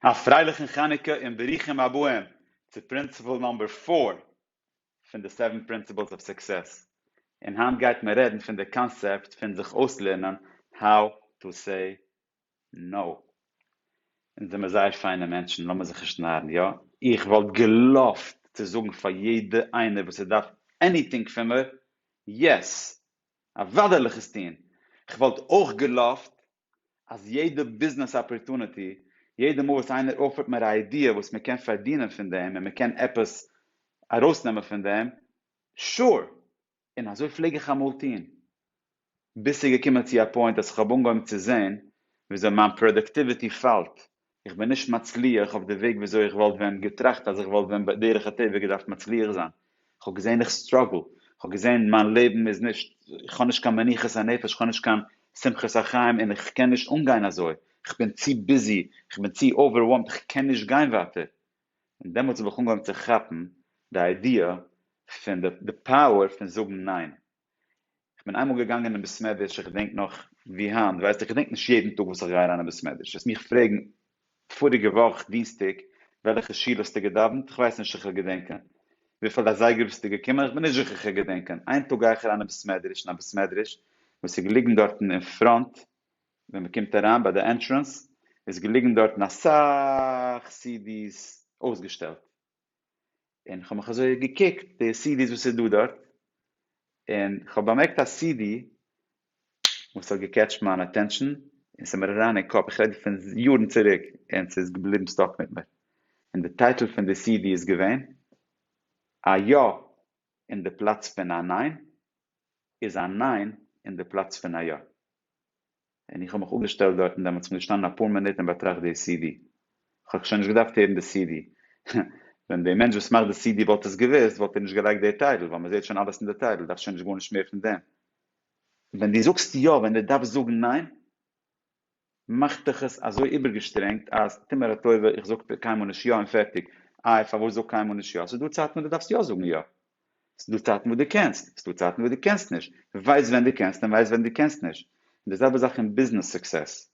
א פרייליכן חנוכה און ברוכים הבאים צו פרינציפעל נאמבער פֿיר פון די סעווען פרינציפעלס אוו סוקסעס, און היינט גייט מען רעדן פון די קאנסעפט פון זיך אויסלערנען האו טו סעי נאו. אונז זעמער זייער פיינע מענטשן לאמיר זיך נישט נארן, יא איך וואלט געלאווט צו זאגן פאר יעדע איינער וואס ער דארף עניטינג פון מיר יעס אוודאי זאל איך עס טון, כ'וואלט אויך געלאווט אז יעדע ביזנעס אפערטוניטי, יעדע מאל וואס איינער אויפערט מיר א איידיע וואס מען קען פארדינען פון דעם און מען קען עפעס ארויסנעמען פון דעם, sure! און אזוי פלעג איך אמאל טון. ביז ס'איז געקומען צו א פוינט אז כ'האב אנגעהויבן צו זען וויאזוי מיין פראדאקטיוויטי פאלט איך בין נישט מצליח אויף די וועג וויאזוי איך וואלט ווען געטראכט אז איך וואלט ווען בדרך הטבע געדארפט מצליח זיין, איך האב געזען איך סטראגל, איך האב געזען מיין לעבן איז נישט, איך האב נישט קיין מנוחת הנפש, איך האב נישט קיין שמחת החיים און איך קען נישט אנגיין אזוי, איך בין צו ביזי, איך בין צו אווערווארמד, איך קען נישט גיין ווייטער. און דעמאלטס האב איך אנגעהויבן צו כאפן די איידיע פון די פאוער פון זאגן ניין. איך בין איינמאל געגאנגען אין בעסמעדריטש איך געדענק נאך ווי היינט ווייסט איך געדענק נישט יעדן טאג וואס איך גיי אריין אין בעסמעדריטש העסט מיך פרעגן פאריגע וואך דינסטאג וועלכע שול האסטו געדאווענט איך ווייס נישט זיכער געדענקען וויפיל אזייגער ביסטו געקומען איך בין נישט זיכער זיכער געדענקען איין טאג גיי איך אריין אין בעסמעדריטש אין א בעסמעדריטש וואס איז געליגן דארטן אין פראנט ווען מען קומט אריין ביי די ענטרענס איז געליגן דארטן אסאך סידי'ס אויסגעשטעלט און כ'האב מיך אזוי געקוקט די סידיס וואס איז דא דארט, און כ'האב באמערקט א סידי וואס האט געקעטשט מיין אטענשאן, און ס'איז מיר אריין אין קאפ, איך רעד פון יארן צוריק, און ס'איז געבליבן סטאק מיט מיר, און די טייטל פון די סידי איז געווען, א יא אין די פלאץ פון א ניין, איז א ניין אין די פלאץ פון א יא. און איך האב מיך אפגעשטעלט דארטן דעמאלטס און געשטאנען אפאר מינוט און באטראכט די סידי, איך האב שוין נישט געדארפט הערן די סידי, ווען די מענטש וואס מאכט די סידי וואלט עס געוואוסט וואלט ער נישט געלייגט די טייטל, ווייל מען זעהט שוין אלעס אין די טייטל, דארף שוין נישט גארנישט מער פון דעם. ווען דו זאגסט יא ווען דו דארפסט זאגן ניין, מאכט דיך עס אזוי איבערגעשטרענגט אז טו מיר א טובה איך זאג קיינמאל נישט יא און פערטיג, איי פארוואס זאג קיינמאל נישט יא, ס'איז דא צייטן ווען דו דארפסט יא זאגן יא, ס'דא צייטן וואס דו קענסט, ס'דא צייטן וואס דו קענסט נישט, ווייס ווען דו קענסט און ווייס ווען דו קענסט נישט, און די זעלבע זאך אין ביזנעס סוקסעס,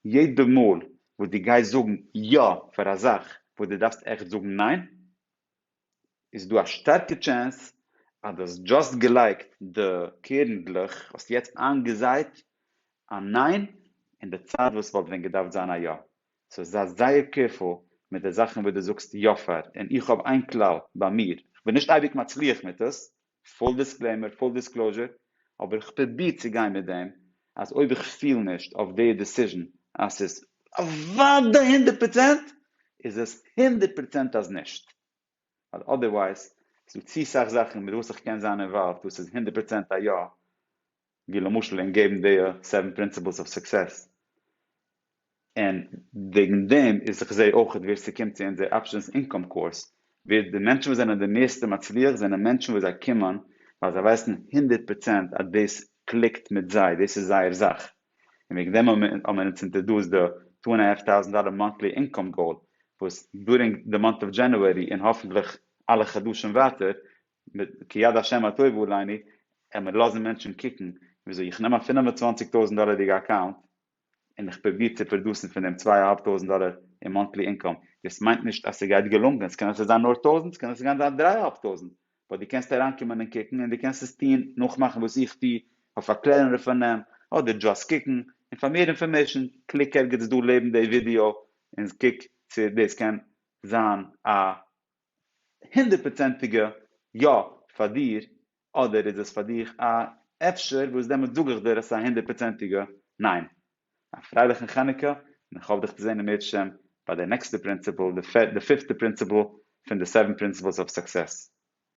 יעדע מאל וואס דו גייסט זאגן יא פאר א זאך וואס דו דארפסט עכט זאגן ניין, איז דא א שטארקע טשענס אז דו האסט דזשאסט געלייגט די קערנדלעך, האסט יעצט איינגעזייט א ניין אין די צייט וואס וואלט ווען געדארפט זיין א יא, סאו זיי זייער קעירפול מיט די זאכן וואס דו זאגסט יא פאר, און איך האב איין כלל ביי מיר, איך בין נישט אייביג מצליח מיט עס, פול דיסקלעימער, פול דיסקלאזשער, אבער איך פרוביר צו גיין מיט דעם אז אויב איך פיל נישט אויף די דיסיזשן אז ס'איז אוודאי הונדערט פראצענט, איז עס הונדערט פראצענט אז נישט. ווייל אדערווייז איז דא צו סאך זאכן מיט וואס איך קען זיין אינוואלווד וואס איז הונדערט פראצענט א יא, ווי למשל אין געבן די סעווען פרינציפלס אוו סוקסעס, און וועגן דעם איז איך זע אויך ווער ס'קומט צו אונזער אפשענס אינקאם קורס ווער די מענטשן וואס זענען די מערסטע מצליח זענען מענטשן וואס זיי קומען ווייל זיי ווייסן הונדערט פראצענט אז דאס קליקט מיט זיי, דאס איז זייער זאך. און וועגן דעם האט מען אונז אינטערדארסט די טו ענד א האלף טאוזענט דאלער מאנטלי אינקאם גאול וואס דורינג די מאנט אוו דזשענוערי און האפענטליך אלע חדשים ווייטער כי יד השם הטובה עלינו ער מיר לאזן מענטשן קוקן וויאזוי איך נעם א פינף און צוואנציג טויזענט דאלערדיגע אקאונט און איך פרוביר צו פראדוסן פון דעם צוויי אהאלב טויזענט דאלער אין מאנטלי אינקאם דאס מיינט נישט אז ס'גייט געלונגען ס'קען אפשר זיין נאר טויזענט ס'קען אפשר זיין דריי אהאלב טויזענט ווייל דו קענסט אריינקומען און קוקן און דו קענסט עס טון, נאכמאכן וואס איך טו, אויף א קלענערע פארנעם, אדער דזשאסט קוקן, און פאר מער אינפארמעישן קליק ערגעץ דא לעבן די ווידיאו און קוק צו דאס קען זיין א הונדערט פראצענטיגע יא פאר דיר, אדער איז עס פאר דיך א אפשר וואס דעמאלטס זאג איך דיר עס איז א הונדערט פראצענטיגע ניין. א פרייליכן חנוכה און איך האף דיך צו זען אם ירצה ביי די נעקסטע פרינציפל, די פיפטע פרינציפל פון די סעווען פרינסיפלס אוו סוקסעס.